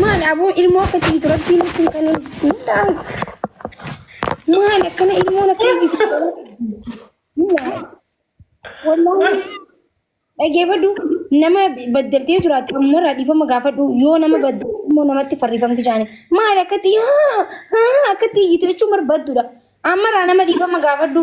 Maali aboo ilmoo akka jibitu rabbiin nutti hin kennine bismillah. Maali akkana ilmoon akka jibitu bismillah. Wallaahi dhageeffadhu nama baddaltee jiraatti ammarraa dhiifama gaafadhu yoo nama baddalte immoo namatti farrifamti jaani. Maali akkatti haa haa akkatti iyyitu jechuun barbaaddudha. Ammarraa nama dhiifama gaafadhu.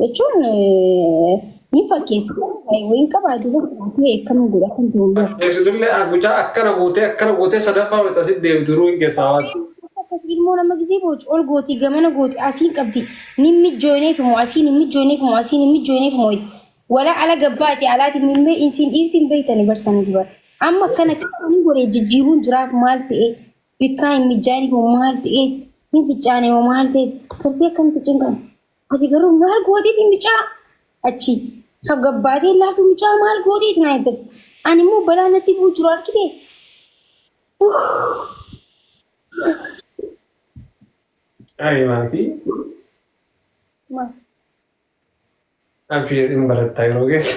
jechuun ni fakkeessa. Wayiin qabaa jiru taatee akkana godha kan ta'u yoo. Fakkeessitullee mucaa akkana gootee akkana gootee sadaffaa walitti asitti deebitu duruu hin keessaa waan. Akkas ilmoo nama gisee booci ol gooti gamana gooti asiin qabdi ni mijjooneef immoo asiin ni mijjooneef immoo asiin ni mijjooneef immoo wala ala gabbaati alaati mimmee insiin dhiirtiin beektani barsanii dubar. Amma akkana akkana ni godhe jijjiiruun jiraaf maal ta'e Bikkaa hin mijaa'in hoo maal ta'ee hin fichaane hoo maal ta'e gartee akkamitti cinqan ati garuu maal gooteeti micaa achi kaf gabbaatee laatu micaa maal gooteeti naa jettan ani immoo balaa natti bu'u jiru argite Ani maatii maal abshii jedhin barattaa yeroo keessa.